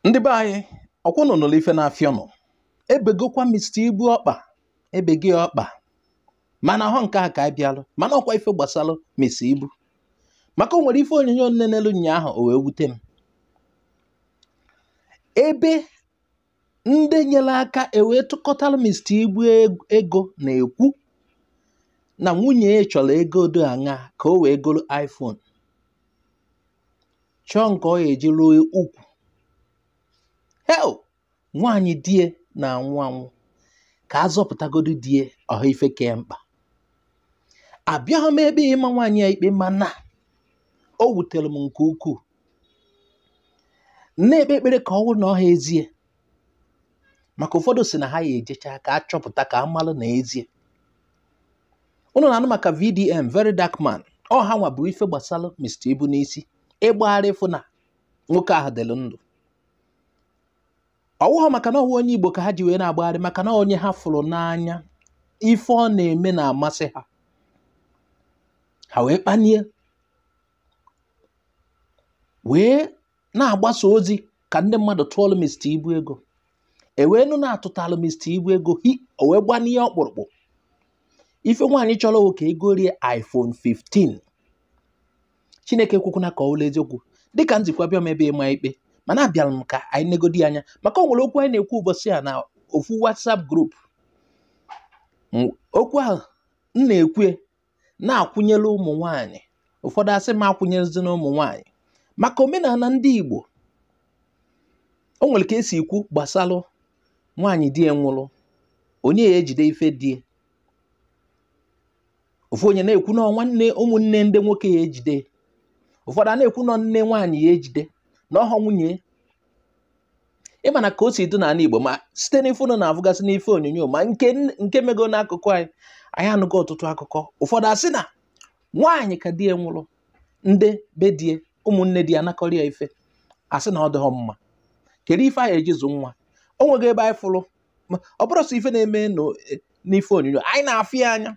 ndị be anyị ọkwa ụnụ nụlụ ife na-afịọ nụ ebegokwa mista ibu ọkpa ebegị ọkpa mana ọhọ nke a ka a bịalụ mana ọkwa ife gbasalụ mista ibu maka o nwere ife onyonyo m nenelu nyaahụ o wee wute m ebe ndị nyere aka ewee tụkọtara mista ibu ego na-ekwu na nwunye ya chọrọ ego odo aṅa ka o wee goro iphone chọọ nke ọ ya-eji ruo ukwu hei nwaanyị die na-anwụ anwụ ka a zọpụtagodu die ọha ife kee mkpa abịahọ m ebe ịma nwaanyị a ikpe mana o wutere m nke ukwuu na-ekpe ekpere ka ọ wụrụ na ọha ezie maka ụfọdụ si na ha ya ejecha ka a chọpụta ka a malụ na ezie ụnụ na-anụ maka VDM very dark man ọ ha nwa bu ife gbasalụ Mr. Ibu n'isi ịgbagharị ịfụ na nwoke ahụ dịlụ ndụ ọwụghọ maka na ọwụ onye Igbo ka ha ji wee na-agbagharị maka na onye ha fụrụ n'anya ife ọ na-eme na-amasị ha ha wee kpanie wee na-agbasa ozi ka ndị mmadụ tụọlụ Mr. Ibu ego ewee nụ na a tụtalụ Mr. Ibu ego hi o wee gbanie ọkpụrụkpụ ife nwaanyị chọrọ ka egorie iPhone 15 Chineke ekwekwana ka ọ wụlụ eziokwu dịka m si kwuo abịahọ m ebe ịma ikpe mana abịalụ m ka anyị negodi anya maka o nwere okwu anyị na-ekwu ụbọsị a na ofu WhatsApp group okwu ahụ m na-ekwu ya na-akwụnyere ụmụ nwanyị ụfọdụ asị m akwụnyerezina ụmụ nwanyị maka omenana ndị Igbo o nwere ka e si ekwu gbasalụ nwaanyị di ya nwụrụ onye ya ejide ife die ofu onye na-ekwu na nwanne ụmụnne ndị nwoke ya ejide ụfọdụ a na-ekwu na nne nwaanyị ya ejide na ọhọ nwunye ị ma na ka o si dị n'ana Igbo ma site n'ife ụnụ na-afụgasị n'ife onyonyo ma nke mego n'akụkụ anyị anyị anụgo ọtụtụ akụkọ ụfọdụ asị na nwaanyị ka di ya nwụrụ ndị be die ụmụnne di ya anakọrọ ya ife asị na ọ dịghọ mma kedu ife a ya-eji zụ nwa o nwego ebe anyị fụrụ ọ bụrọ sọ ife na-eme n'ife onyonyo anyị na-afụ ya anya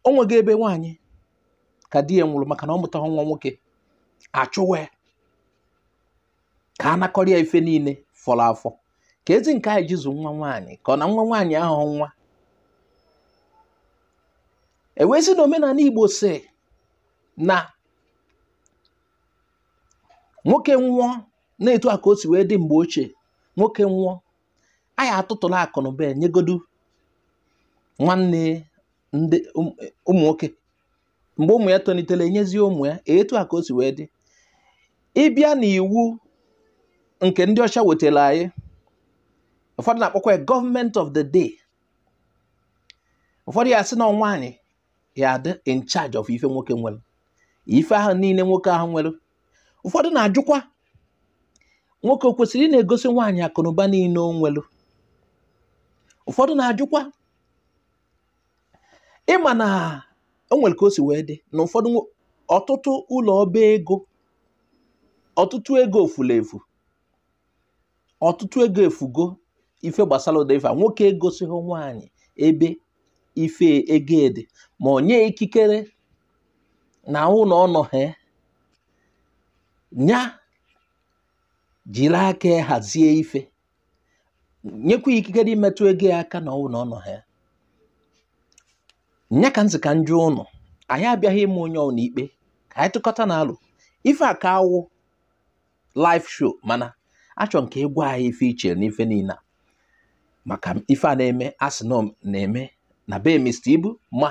o nwego ebe nwaanyị ka di ya nwụrụ maka na ọ mụtaghị nwa nwoke achụwe ka a nakọrọ ya ife niile fọrọ afọ keezi nke a ya-eji zụ nwa nwaanyị ka ọ na nwa nwaanyị ahọ nwa ewee sị na omenanị Igbo si na nwoke nwụọ na-etu a ka o si wee dị mgbe ochie nwoke nwụọ a ya-atụtụlụ akụ na ụba nyegodu nwanne ndị ụmụ nwoke mgbe ụmụ ya tolitere enyezie ụmụ ya etu a ka o si wee dị ị bịa na iwu nke ndị ọcha wetara anyị ụfọdụ na-akpọkwa ya government of the day ụfọdụ ya sị na nwaanyị ya-adị in charge of ife nwoke nwere ife ahụ niile nwoke ahụ nwere ụfọdụ na-ajụkwa nwoke o kwesịrị ị na-egosi nwaanyị akụnụba niile o nwere ụfọdụ na-ajụkwa ị ma na o nwere ka o si wee dị na ụfọdụ nwo- ọtụtụ ụlọ ọba ego ọtụtụ ego fulu efu ọtụtụ ego efugo ife gbasara ụdị ife a nwoke egosighị nwaanyị ebe ife ego dị ma ọ nye ikikere na ọ wụlụ ọ nọhọ nya jiri aka ya hazie ife nyekwa ikikere imetụ ego ya aka na ọ wụ na ọ nọhọ ya nya ka m sị ka m jụọ ụnụ anyị abịaghị ịma onye ọwụna ikpe ka anyị tụkọtanụ alo ife a ka-awụ live show mana achọ m ka ị gwa anyị ife i che na ife niile a maka ife a na-eme a sị na ọ na-eme na be Mr. Ibu ma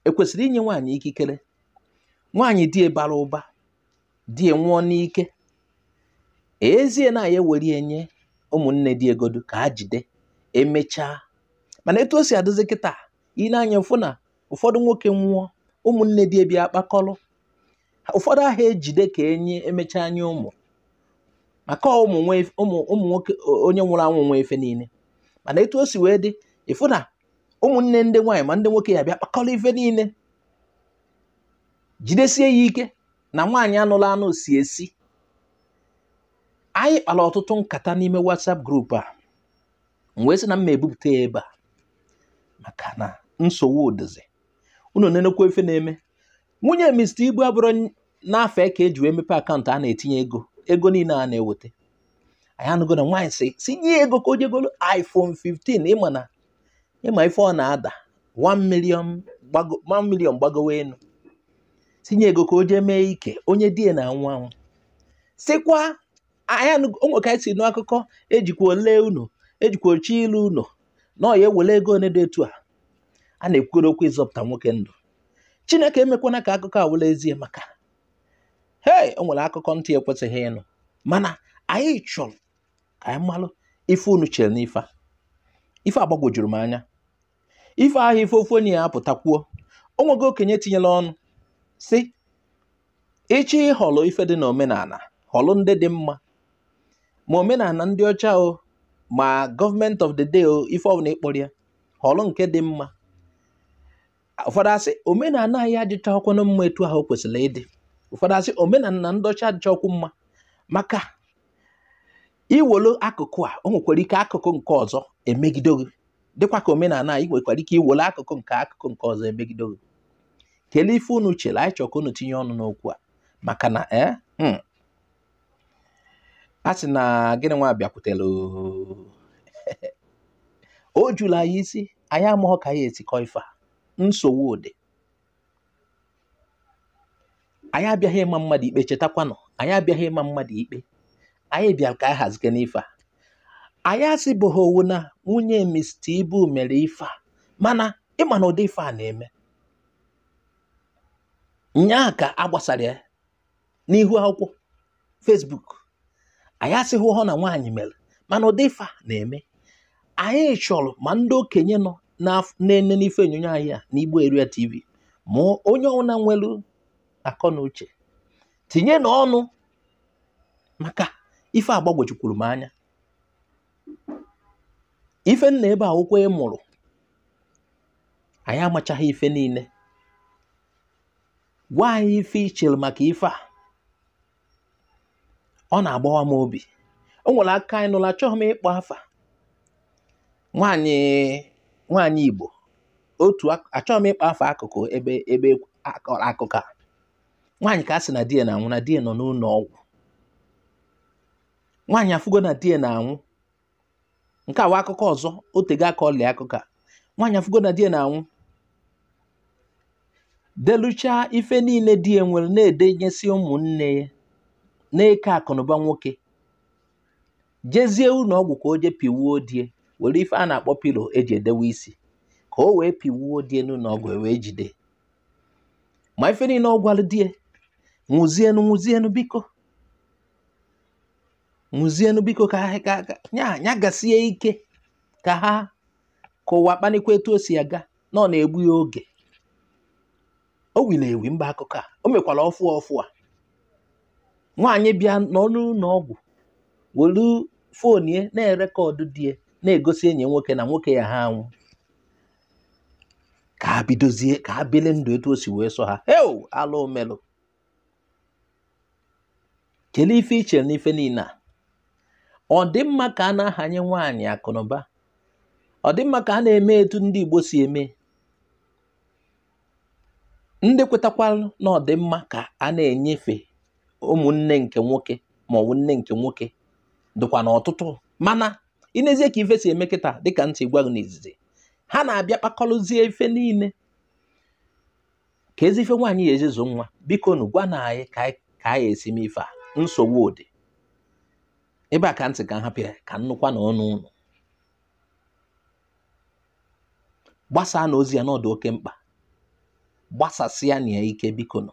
e kwesịrị inye nwaanyị ikikere nwaanyị di ya bara ụba di ya nwụọ n'ike ezie na a ya-ewere ya nye ụmụnne di ya godu ka ha jide emechaa mana etu o si adịzi kịta i nee anya fụ na ụfọdụ nwoke nwụọ ụmụnne di ya abịa kpakọrọ ụfọdụ ha ejide ka enye emechaa nye ụmụ maka ụmụ nwoke onye nwụrụ anwụ nwe ife niile mana etu o si wee dị ị fụ na ụmụnne ndị nwaanyị ma ndị nwoke ya-abịa kpakọrọ ife niile jidesie ya ike na nwaanyị a nụlụ anụ si ezi anyị kpara ọtụtụ nkata n'ime WhatsApp group a m wee sị na m ma ebupụta ya ebe a maka na nsogbu dịzi unu nenekwa ife na-eme nwunye Mr. Ibu ọ bụrụ na afa ya ka e ji wee mepe akaụntụ a na-etinye ego ego niile a na-eweta anyị anụgo na nwaanyị sị sị nye ego ka o je golo iPhone 15 ị ma na ị ma ife ọ na-ada 1 million gbago 1 million gbagowe enu sị nye ego ka o jee mee ike onye di ya na-anwụ anwụ sịkwa anyị anụ- o nwere ka anyị si nụ akụkọ ejikwa ole unu ejikwa ochi ilu unu na ọ ya-ewele ego one dị etu a a na-ekwukere okwu ịzọpụta nwoke ndụ chineke emekwana ka akụkọ a wụlụ ezie maka hei o nwere akụkọ ntị ekwesịghị ịnụ mana anyị chọrọ ka anyị malụ ife unu chere n'ife ife a gbagwojuru m anya ife ahụ ife ofu onye ya-apụta kwuo o nwego okenye tinyela ọnụ sị ị chọ ịhọlụ ife dị n'omenala họlụ ndị dị mma ma omenala ndị ọcha o ma government of the day o ife ọbụla ị kpọrọ ya họlụ nke dị mma ụfọdụ asị omenala anyị adịchaghịkwanụ mma etu ahụ o kwesịrị ịdị ụfọdụ asị omenala ndị ọcha adịchaghịkwu mma maka i welu akụkụ a o nwekwara ike akụkụ nke ọzọ emegido gị dịkwa ka omenala anyị nwekwara ike i welu akụkụ nke akụkụ nke ọzọ emegido gị kelee ife unu chere anyị chọrọ ka unu tinye ọnụ n'okwu a maka na ee a sị na gịnị nwa bịakwutere o juru anyị isi anyị amaghị ka anyị esi kọ ife a nsogbu dị anyị abịaghị ịma mmadụ ikpe chetakwanụ anyị abịaghị ịma mmadụ ikpe anyị bịara ka anyị hazike n'ife a anyị asịbụghị ọ wụ na nwunye Mr. Ibu mere ife a mana ịma na ụdị ife a na-eme nyaa ka a gbasara ya n'ihu akwụkwọ Facebook anyị asịbụhọ na nwaanyị mere mana ụdị ife a na-eme anyị chọrọ ma ndị okenye nọ na-ene n'ife onyonyo anyị a na Igbo Area TV ma onye ọbụla nwere akọ na uche tinyenụ ọnụ maka ife agbagwojukwuru m anya ife nna ebe akwụkwọ ị mụrụ anyị amachaghị ife niile gwa anyị ife i chere maka ife a ọ na-agbawa m obi o nwere akụkọ anyị nụla achọghị m ịkpọ afa nwaanyị nwaanyị Igbo otu achọghị m ịkpọ afa akụkụ ebe ebe a kọrọ akụkọ a nwaanyị ka a sị na di ya na-anwụ na di ya nọ n'ụlọ ọgwụ nwaanyị afụgo na di ya na-anwụ nke a wụ akụkọ ọzọ o tego a kọlị akụkọ a nwaanyị afụgo na di ya na-anwụ deluchaa ife niile di ya nwere na-edenyesi ụmụnne ya na-eke akụnụba nwoke jezie ụlọ ọgwụ ka o je pịwuo di ya were ife a na-akpọ pillow e ji edewe isi ka o wee pịwuo di ya n'ụlọ ọgwụ e wee jide ma ife niile ọ gwara di ya nwụzienụ nwụzienụ biko nwụzienụ biko ka ha ka ka- ya ya gasie ike ka ha ka ụwa kpanikwa etu o si aga na ọ na-egbu ya oge o wiri ewi mgbe akụkọ a o mekwara ọfụ ọfụ a nwaanyị bịa n'ọnụ ụlọ ọgwụ welu phone ya na-erekọdụ di ya na-egosi enyi nwoke na nwoke ya ha anwụ ka ha bidozie ka ha bili ndụ etu o si wee sọ ha heo alụ melụ kelee ife i chere n'ife niile a ọ dị mma ka a na-ahanye nwaanyị akụnụba ọ dị mma ka a na-eme etu ndị Igbo si eme ndị kwetakwalụ na ọ dị mma ka a na-enyefe ụmụnne nke nwoke ma ọ bụ nne nke nwoke dịkwa na ọtụtụ mana i nezie ka ife si eme kịta dịka m si gwa gị n'izizi ha na-abịa kpakọrọzie ife niile kezi ife nwaanyị ya-eji zụ nwa biko nụ gwa nụ anyị ka anyị esi me ife a nsogbu dị ebe a ka m sị ka m hapụ ya ka m nụkwa n'ọnụ ụnụ gbasaa nụ ozi a na ọ dụ oke mkpa gbasasịa nụ ya ike biko nụ